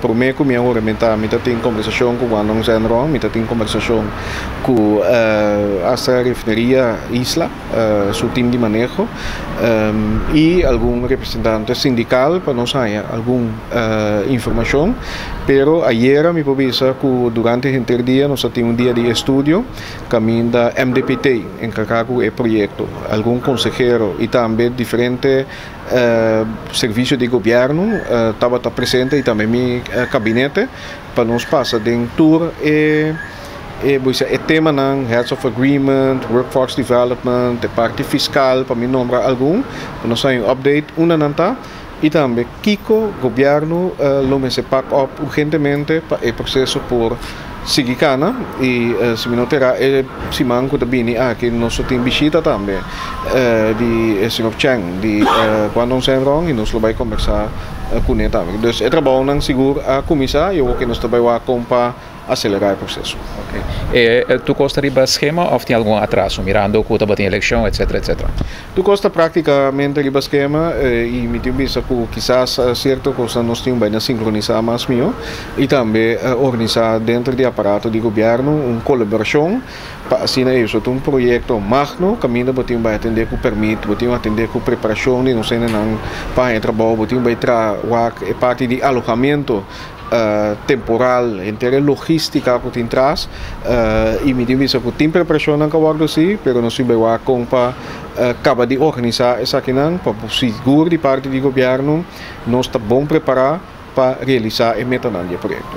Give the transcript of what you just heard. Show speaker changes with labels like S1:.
S1: Promé ku mi a huramentá, mi ta tin kombersashon ku Guandong Zhenrong, mi ta tin kombersashon ku Astra Refineria Isla su tim di maneho i algun representante sindikal pa nos haña algun informashon. Pero ayera mi por bisa ku durante henter dia nos a tin un dia di estudio kaminda MDPT enkargá ku e proyekto, algun konsehero i tambe diferente Servicio di Gobierno tabata presente y tambe mi Gabinete pa nos pasa den tur e e bo dice e temanan, Heads of Agreement, Workforce Development, e parti fiscal pa mi nombra algun, pa nos hay un update unda nan ta y tambe kico Gobierno lo mester pak op urgentemente pa e proceso por Sigui cana y si mi no te erá e siman cu ta bini aki nos lo tin bishita tambe di e señor Cheng di Guandong Zenrong y nos lo bay combersa cune tambe. Dus e trabaonan sigur a cuminsa y awo ke nos ta bay wak con pa acelera e proceso. Ok. E
S2: tur cos ta riba schema of tin algun atraso mirando cu tabatin eleccion etcetera etcetera? Tur cos ta
S1: practicamente riba schema y mi tin bisa cu kisas cierto cosnan nos tin bayna sincronisa mas miho y tambe organisa dentro di aparato di gobierno un colaboracion pa asina e sot un proyecto magno caminda bo tin bay atende cu permit, bo tin atende cu preparacion di nos hendenan pa haña trabao, bo tin bay traha wak e parti di alohamento. temporal henter e logistica cu tin tras y mi tin bisa cu tin preparacionnan ca wordo si pero nos tin bay wak con pa caba di organisa esakinan pa sigur di parti di gobierno nos ta bon prepara pa realisa e metanan di e proyecto.